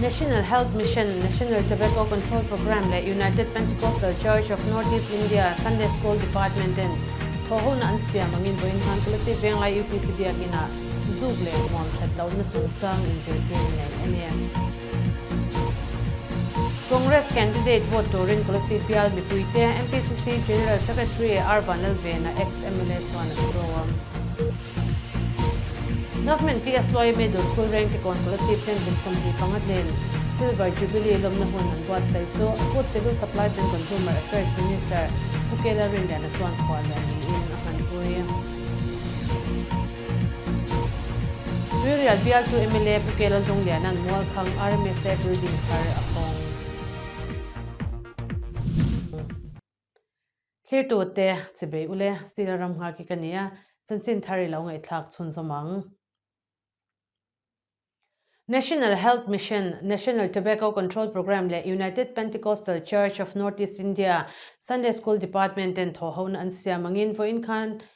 National Health Mission, National Tobacco Control Programme leh United Pentecostal Church of Northeast India Sunday School Department ten thawhhona an siam angin vawiin Hmangkulasi Venglai UPC Biakin ah zuk leh hmuam that lohna chungchang inzirtir a nei a nia. Congress candidate vote turin Kulasi Bial mipuite, MPCC General Secretary Arvan Lalvena, ex-MLA chuan a sawm. Government PSY Middle School Reng Kekawn Policy Plan Bincham Hnih Panga Hnen Silver Jubilee lawmna hun an buatsaih chu Food Civil Supplies and Consumer Affairs Minister Pu Kela Rinliana chuan khuah lian niin a hmanpui. Ruirial bialtu mla Pu Kela Hlungliana'n Mualkhang RMSA Building thar a hawng. Thirtute, Chibei u le, Sila ram nghak hi ka ni a, chanchin thar i lo ngaihthlak chhunzawm ang. National Health Mission, National Tobacco Control Programme leh United Pentecostal Church of North-East India, Sunday School Department ten thawhhona an siam angin vawiin khan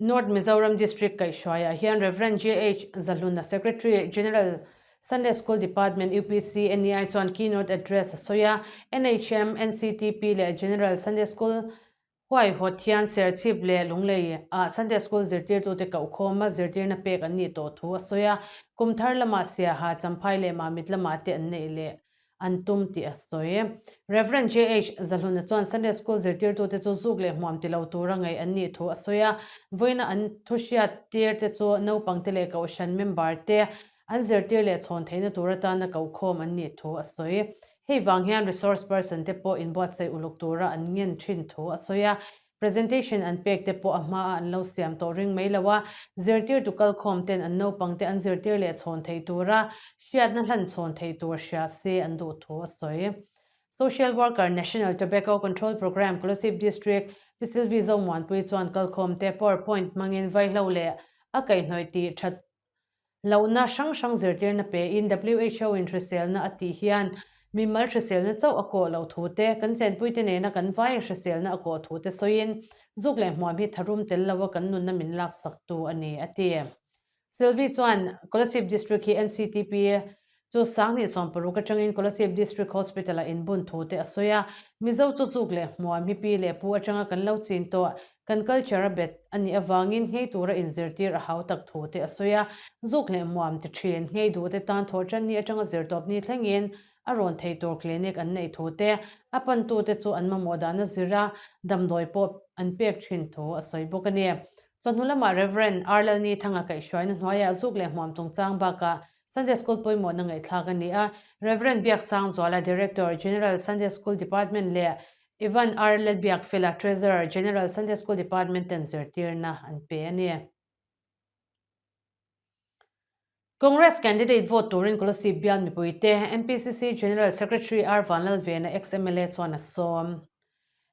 North Mizoram District kaihhruaiah hian Rev. JH. Zahluna, Secretary General, Sunday School Department, UPC, NEI chuan Keynote Address a sawi a, NHM, NCTP leh General Sunday School huaihawt hian serchhip leh lunglei ah Sunday School zirtirtute kohkhawma zirtirna pek an nih tawh thu a sawi a, kum thar lamah Siaha, Champhai leh Mamit lamah te an neih leh an tum tih a sawi. Rev. JH. Zahluna chuan Sunday School zirtirtute chu zuk leh hmuam ti lo tura ngaih an nih thu a sawi a, vawiina an thuhriat tîrte chu naupangte leh Kohhran member te an zirtir leh chhawn theihna tur atan a kohkhawm an nih thu a sawi. Hei vang hian resource person te pawh inbuatsaih uluk tura an ngen ṭhin thu a sawi a, Presentation an pek te pawh a hma a an lo siam tawh reng mai lo a, zirtirtu kal khawm ten an naupang te an zirtir leh chhawn theih tur a hriatna hlan chhawn theih tur hria se an duh thu a sawi. Social Worker, National Tobacco Control Programme, Kolasib District, Pisilvi Zomuanpui chuan kal khawm te power point hmangin vaihlo leh a kaihhnawih tih that Lohna hrang hrang zirtirna pein WHO in hriselna a tih hian mimal hriselna chauh a kawh loh thu te, kan chenpuite nena kan vai hriselna a kawh thu te sawiin zuk leh hmuam hi tharum tel lo a kan nunna min laksak tu a ni, a ti. Sylvie chuan Kolasib District hi NCTP Chu sang hnih sawm paruk atangin Kolasib District Hospital-a inbun thu te a sawi a, Mizo chawzuk leh hmuan mipi leh pu atanga kan lo chin tawh, kan culture a bet a nih avangin ngei tura inzirtir a hau tak thu te a sawi a, zuk leh hmuam te thin, ngei duh te tan thawh tanni atanga zirtawp ni thlengin a rawn thei tur clinic an neih thu te, a pantu te chu an mamawh dan a zir a, damdawi pawh an pek thin thu a sawi bawk a ni. Chawhnu lamah Rev. Arlalni thanga kaihhruaina hnuaiah zuk leh hmuam chungchang bakah Sunday School pawimawhna ngaihthlak a ni a, Rev. Biak Sangzuala, Director, General Sunday School Department leh Ivan R. Letbiakfela, Treasurer, General Sunday School Department ten zirtirna an pe a ni. Congress candidate vote turin Kolasib Bialmipuite, MPCC General Secretary R. Vanlalvena, ex-MLA chuan a sawm.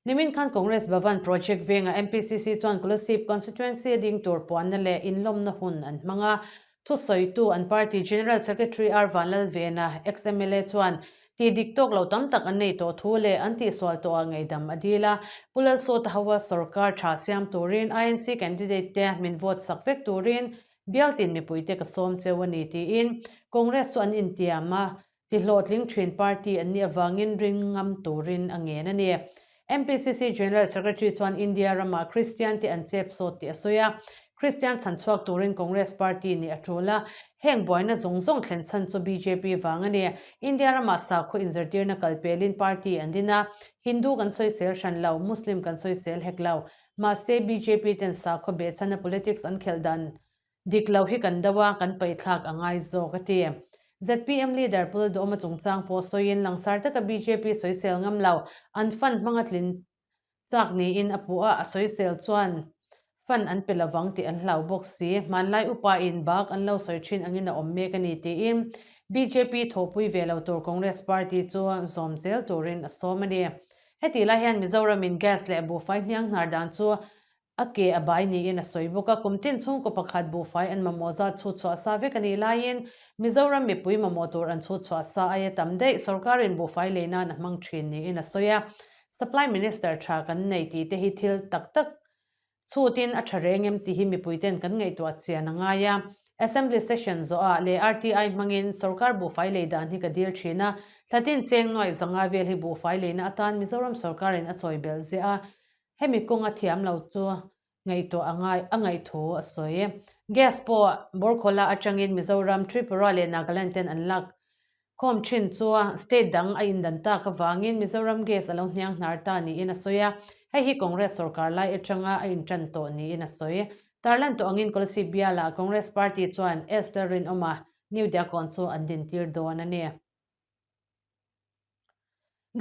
Nimin khan Congress Bhavan project vengah MPCC chuan Kolasib constituency a ding tur puanna leh inlawmna hun an hmang a. Thusawitu an party General Secretary R Vanlal Vena, ex-mla chuan tih dik tawk lo tam tak an nei tawh thu leh an tihsual tawha ngeihdam a dil a. Pu Lalsawta hova sawrkar tha siam turin INC candidate te min vote sak vek turin Bialtin mipuite ka sawm cheu a ni tiin Congress chu an intiam a. Tihlawhtling thin party an nih avangin rin ngam turin a ngen a ni. MPCC General Secretary chuan India ramah Kristian te an chep sawt tih a sawi a, Kristian chhan chhuak turin Congress party nih a tul a, heng buaina zawng zawng thlen chhan chu bjp vang a ni. India ramah sakhaw inzirtirna kal pelin party an din a, Hindu kan sawisel hran lo, Muslim kan sawisel hek lo. Mahse, bjp ten sakhaw beh chhanna politics an khelh dan. Dik lo hi kan do a, kan paihthlak a ngai zawk, a ti. Zpm leader Pul Dawma chungchang pawh sawiin langsar taka bjp sawisel ngam lo, an fan hmanga tlin chak niin a puh a, a sawisel chuan fan an pe lovang tih an hlau bawk si. Hmanlai upain bak an lo sawi thin angin a awm mek a ni, tiin bjp thawhpui ve lo tur Congress Party chu zawm zel turin a sawm a ni. Heti lai hian Mizoramin gas leh buhfai hniangnar dan chu A ke a bai niin a sawi bawk a, kum tin chhungkaw pakhat buhfai an mamawh zat chhutchhuah a sa vek a nih laiin Mizoram mipui mamawh tur an chhutchhuah a sa aia tam daih sorkarin buhfai lei nan a hmang thin niin a sawi a. Supply Minister tha kan nei tih te hi thil tak tak chhutin a tha reng em tih hi mipuiten kan ngaihtuah a chian a ngai a. Assembly session zawh ah leh RTI hmangin sorkar buhfai lei dan hi ka dil thin a, thlatin cheng nuai zanga vel hi buhfai leina atan Mizoram sorkarin a chawibelh ziah a Hemi kawng a thiam lo chu ngaihtuah a ngai, a ngaih thu a sawi. Gas pawh bawr khawla atangin Mizoram, Tripura leh Nagaland ten an lak khawm thin chu state dang a indan tak avangin Mizoram gas a lo hniang hnar ta niin a sawi a, hei hi Congress sawrkar lai atanga a intan tawh niin a sawi. Tarlan tawh angin Kolasib bialah Congress party chuan SL rinawma New Diakawng chu an dintir dawn a ni.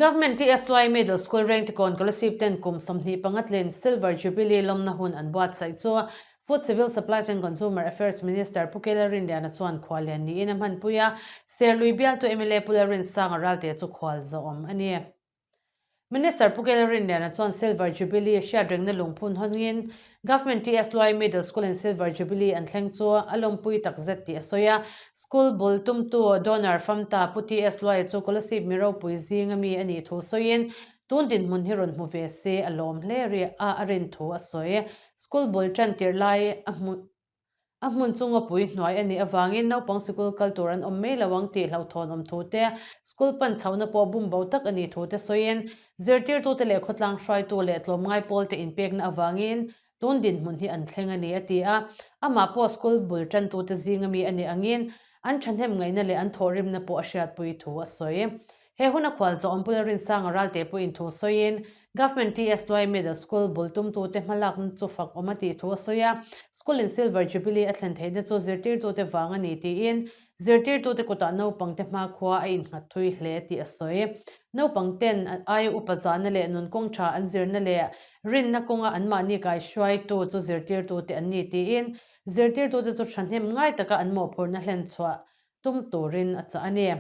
Government i SYE Middle School Reng Tikawn Scholarship ten kum sawmhnih panga tlin Silver Jubilee lawmna hun an buatsaih chu Food Civil Supplies and Consumer Affairs Minister Pu Kela Rinliana chuan khualian niin a hmanpui a, Serlui bialtu mla Pu La Rinsanga ralte chu khual zawh awm a ni. Minister Pu Kyaw Rinliana chuan Silver Jubilee a hriat rengna lungphun hawngin Government TSY Middle School in Silver Jubilee an thleng chu a lawmpui takzet tih a sawi a. School bul tumtu Donor Famta Pu TSY chu Kolasib mi ropui zing a mi a nih thu sawiin tun dinhmun hi rawn hmu ve se a lawm hle a rin thu a sawi. School bul ṭan tirh lai a hmuh A hmun chu ngawpui hnuai a nih avangin naupang sikul kal tur an awm mai lo ang tih hlauhthawn awm thu te, sikul pan chhohna pawh bum bo tak a nih thu te sawiin zirtirtute leh khawtlang hruaitu leh tlawmngai pawlte inpekna avangin tun dinhmun hi an thleng a ni, a ti a. Amah pawh sikul bul tantute zinga mi a nih angin an thahnem ngaihna leh an thawhrimna pawh a hriatpui thu a sawi. He huna khual zawh awm bula Rinsanga ral teh pawhin thu sawiin, Government TSY Middle School bul tumtute hmalakna chu fak awm a tih thu a sawi a, school in Silver Jubilee a thlen theihna chu zirtirtute vang a ni tiin, zirtirtute kutah naupangte hma khua a innghat thui hle tih a sawi. Naupang ten aia upa zahna leh nun kawng tha an zirna leh rinna kawnga anmahni kaihruaitu chu zirtirtute an ni tiin, zirtirtute chu thahnem ngai taka an mawhphurhna hlen chhuah tum turin a chah a ni.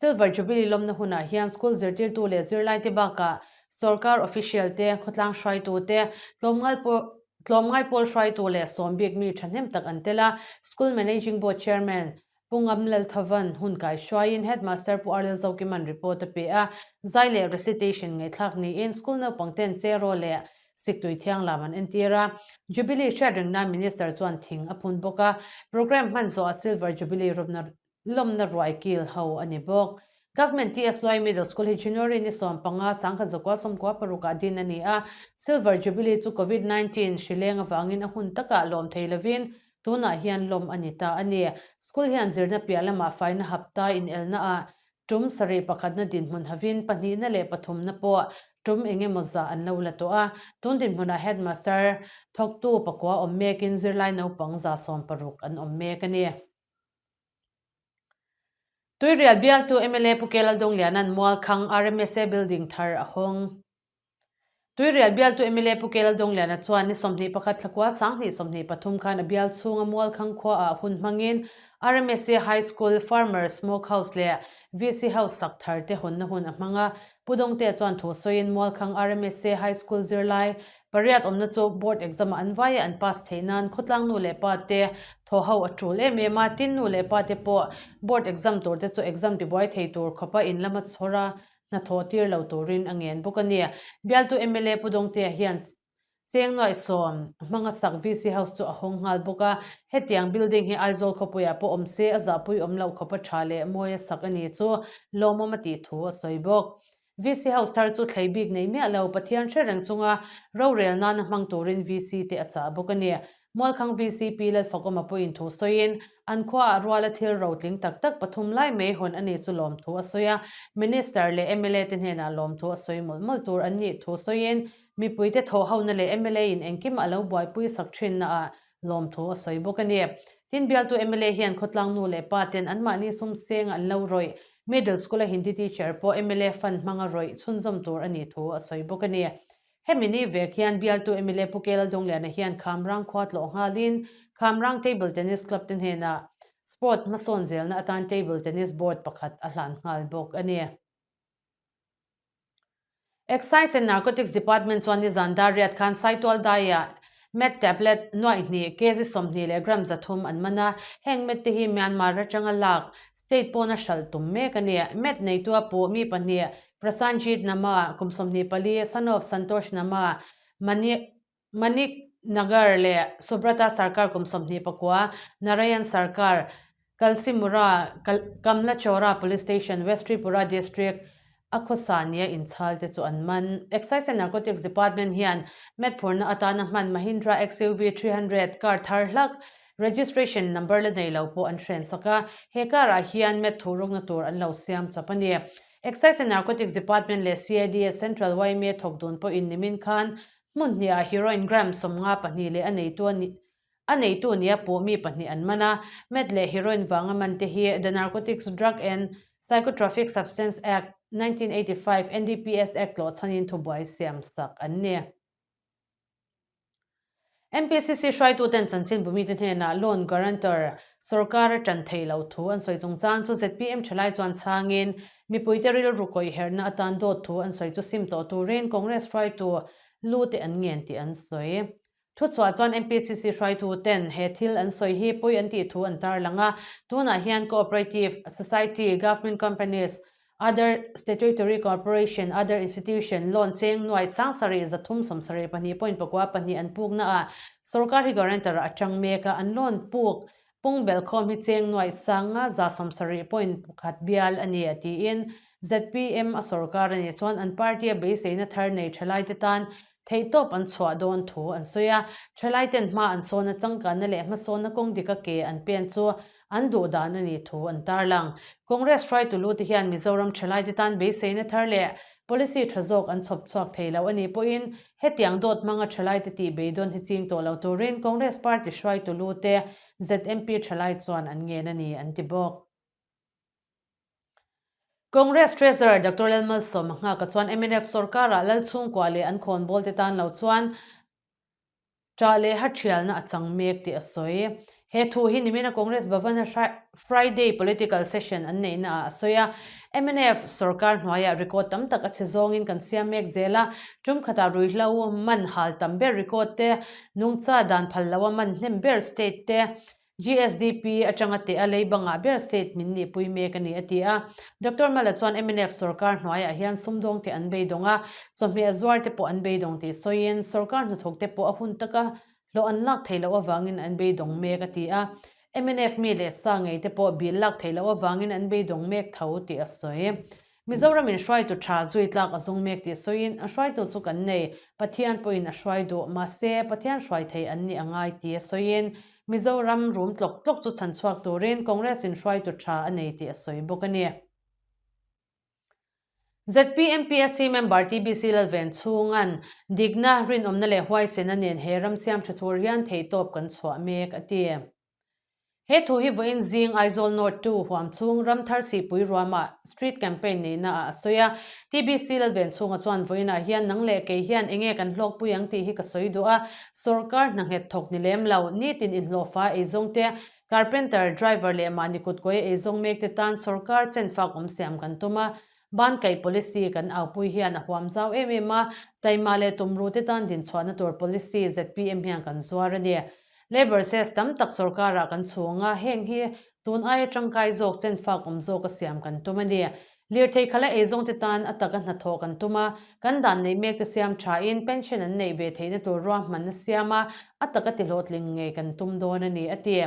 Silver Jubilee lawmna hunah hian School zirtirtu leh zirlaite bakah Sorkar Official te, khawtlang hruaitu te, tlawmngal pawl tlawmngai pawl hruaitu leh sawm bik mi thahnem tak an tel a, School Managing Board Chairman Pu Ngam Lalthavan hun kai hruaiin Headmaster Pu Arlel Zawkiman report a pe a, zai leh recitation ngaihthlak niin School naupang ten chairaw leh siktui thianglam an entir a, Jubilee hriatrengna Minister chuan thing a phun bawk a, Programme hman zawha Silver Jubilee rawpna lawmna ruai kil ho a ni bawk. Government TS Loi Middle School hi January ni sawm panga sangha zakua sawmkua paruk ah din a ni a, Silver Jubilee chu Covid nineteen hri leng avangin a hun takah lawm thei lovin tunah hian lawm a ni ta a ni. School hian zirna piah lamah faina hapta inelna ah tum sarih pakhatna dinhmun havin pahnihna leh pathumna pawh tum eng emaw zah an lo la tawh a, tun dinhmun ah Headmaster thawktu pakua awm mekin zirlai naupang za sawm paruk an awm mek a ni. Tuirial bialtu mla Pu Kela Dongliana'n Mualkhang rmsa building thar a hawng. Tuirial bialtu mla Pu Kela Dongliana chuan ni sawmhnih pakhat thla kual sanghnih sawmhnih pathum khan a bial chhunga Mualkhang khua ah hun hmangin rmsa High School, Farmers Smoke House leh VC House sak thar te hawnna hun a hmang a. Pu Dongtea chuan thu sawiin Mualkhang rmsa High School zirlai Pariat awmna chu board exam-ah an vai a, an pass theih nan khawtlang nu leh pa te thaw ho a tul em em a, tin nu leh pa te pawh board exam tur te chu exam tibuai thei tur khawpa in lam a chhawr a, hnathawh tir lo turin a ngen bawk a ni. Bialtu mla Pu Dawngtea hian cheng nuai sawm hmanga sak VC House chu a hawng nghal bawk a, hetiang building hi Aizawl khawpuiah pawh awm se a zahpui awm loh khawpa tha leh mawi a sak a ni chu lawmawm a tih thu a sawi bawk. VC ho star chu thlei bik nei miah lo, Pathian hre reng chunga rorel nana hmang turin VC te a chah bawk a ni. Mualkhang VC pi Lalfakawma pawhin thu sawiin, an khuaah ruala thil ro tling tak tak pathum lai mai hawn a nih chu lawmthu a sawi a, Minister leh mla te hnenah lawmthu a sawi mawlh mawlh tur an nih thu sawiin, mipuite thawhhona leh mla in engkim a lo buaipui sak thinnaah Lawmthu a sawi bawk a ni. Tin, bialtu mla hian khawtlang nu leh pa ten anmahni sumseng an lo rawih. Middle School-a Hindi teacher pawh mla fan hmanga rawih chhunzawm tur a ni thu a sawi bawk a ni. Hemi ni vek hian bialtu mla Pu Kela Dongliana hian Khamrang khua tlawh nghalin Khamrang Table Tennis Club te hnenah Sport hmasawn zelna atan Table Tennis Board pakhat a hlan nghal bawk a ni. Excise and Narcotics Department chuan ni zan dar riat khan saitual daia Meth tablet nuaihnih kg sawmhnih leh gram zathum an man a. Heng Meth te hi Myanmar atanga lak state pawn a hralh tum mek a ni. Meth neitua pu mi pahnih Prasanjit Nama, kum sawmhnih pali, son of Santosh Nama, Mani, Manik Nagar leh Subrata Sarkar kum sawmhnih pakua, Narayan Sarkar, Kalsimura, Kamla Chowra Police Station, West Tripura District, a khawsa nia inchhal te chu an man. Excise and Narcotics Department hian met phurna atana hman Mahindra XUV three hundred car thar hlak registration number la nei lo pawh an thlen sak a, he car ah hian met thuhrukna tur an lo siam chap a ni. Excise and Narcotics Department leh CIDS Central Yma thawk dun pawhin nimin khan Hmunhniah heroine Graham sawmnga pahnih leh a neitu a nih a neitu nia pawh mi pahnih an man a. Matt leh heroine vanga man te hi The Narcotics, Drug and Psychotropic Substance Act, nineteen eighty five, NDPS Act tlawhchhanin thubuai siam sak an ni. NPCC hruaituten chanchin bu mite hnenah loan guarantor, sorkara tan thei lo thu an sawi chung chang chu zpm thelai chuan chhangin Mipuite rilru kawihherhna atan dawt thu an sawi chu sim tawh turin Congress hruaitu lu te an ngen tih an sawi. Thuchhuah chuan MPCC hruaitu ten he thil an sawi hi pui an tih thu an tarlang a, tunah hian cooperative, society, government companies, other statutory corporation, other institution, loan cheng nuai sang sarih za thum sawm sarih pahnih pawhin pakua pahnih an puknaah sorkar hi guarantor a atang mek a, an loan puk Kung Belkhawm hi Chengnuai sanga za sawmsarih point pakhat bial a ni a tiin ZPM a sorkar a nih chuan an party a beiseina thar nei thelaite tan theihtawp an chhuah dawn thu an sawi a. Thelaiten hma an sawna changkanna leh hmasawna kawng dika ke an pen chu an duh dan a nih thu an tarlang. Congress hruaitulute hian Mizoram thelaite tan beiseina thar leh Policy tha zawk an chhawp chhuak thei lo a nih pawhin hetiang dawt hmanga thalai te tih beidawn hi ching tawh lo turin Congress Party hruaitu lute ZMP thalai chuan an ngen a ni an ti bawk. Congress Treasurer Doctor Lalmalsawma nghaka chuan mnf sorkar ah lal chhungkua leh an khawnbawl te tan lo chuan, Ṭah leh haṭhialna a chang mek tih a sawi. He thu hi nimina Congress Bhavan-a Friday political session an neihnaah a sawi a. Mnf sorkar hnuaiah record tam tak a chhe zawngin kan siam mek zel a, ṭum khatah rui hla u, man hal tam ber record te, nungcha dan phal loha man hnem ber state te, GSDP atanga teh a, lei bangah ber state min nihpui mek a ni, a ti a. Doctor Mala chuan mnf sorkar hnuaiah hian sumdawng te an beidawng a, chawhmeh a zuar te pawh an beidawng tih sawiin sorkar hnathawk te pawh a hun taka hlawh an lak thei loh avangin an beidawng mek, a ti a. Mnf mi leh sa ngei te pawh bil lak thei loh avangin an beidawng mek tho tih a sawi. Mizoramin hruaitu tha zui tlak a zung mek tih sawiin a hruaitu chu kan nei, Pathian pawhin a hruai duh, mahse Pathian hruai thei an nih a ngai ti a sawiin Mizoram rum tlawk tlawk chu chhan chhuak turin Congress-in hruaitu tha a nei tih a sawi bawk a ni. ZPMPSC member TBC Lalven chhunga'n Dikna, rinawmna leh huaisena nen he ram siam ṭha tur hian thei tawp kan chhuah mek a ti. He thu hi vawiin zing Aizawl North two huam chhung Ramthar Sihpui ruama Street Campaign neihna ah a sawi a. TBC lal ven chhunga chuan vawiin ah hian nang leh kei hian enge kan hlawkpui ang tih hi ka sawi duh a, sorkar hnanghet thawk ni lem lo, nitin inhlawhfa eizawng te, carpenter, driver leh mahni kutkuai eizawng mek te tan sorkar chenfak awm siam kan tum a, Ban kaih policy kan aupui hian a huam zau em em a, tlaima leh tumru te tan din chhuahna tur policy zpm hian kan zuar a ni. Labour ses tam tak sorkar ah kan chhung a, heng hi tun aia tangkai zawk, chenfak awm zawk a siam kan tum a ni. Lirthei khala ei zawng te tan a tak a hnathawh kan tum a, kan dan neih mek te siam tha in pension an neih ve theihna tur ruahman a siam a, a tak a tihlawhtling ngei kan tum dawn a ni, a ti.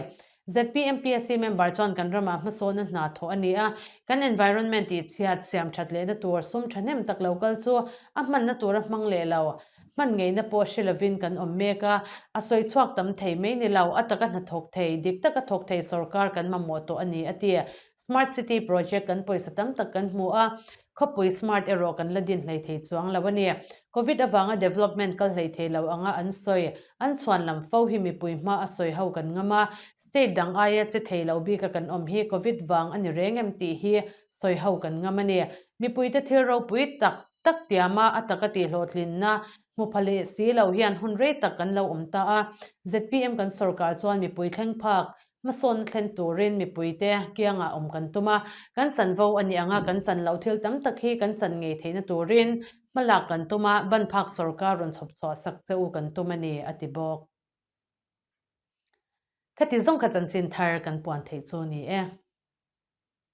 ZPMPSC member chuan kan ramah hmasawnna hna thawh a ni a, kan environment tih chhiat siam that leh na tur sum thahnem tak lo kal chu a hmanna tura hmang leh lo, hman ngeihna pawh hre lovin kan awm mek a, a sawi chhuak tam thei mai ni lo, a taka hna thawk thei, dik taka thawk thei sawrkar kan mamawh tawh a ni a ti. Smart city project kan pawisa tam tak kan hmu a, Khawpui smart erawh kan la din hlei thei chuang lo a ni. Covid avanga development kal hlei thei lo anga an sawi. An chhuan lam fo hi mipui hma a sawi ho kan ngam a, state dang aia che thei lo bika kan awm hi Covid vang a ni reng em tih hi sawi ho kan ngam a ni. Mipuite thil ropui tak tak tiama a taka tih hlawhtlinna hmu pha leh si lo hian hun rei tak kan lo awm ta a, zpm kan sawrkar chuan mipui thleng phak Hmasawn thlen turin mipuite kiangah awm kan tum a, kan chanvo a ni anga kan chan loh thil tam tak hi kan chan ngei theihna turin hma lak kan tum a, ban phak sorkar rawn chhawp chhuah sak che u kan tum a ni, a ti bawk. Khati zawng kha chanchin thar kan puan theih chu ni e.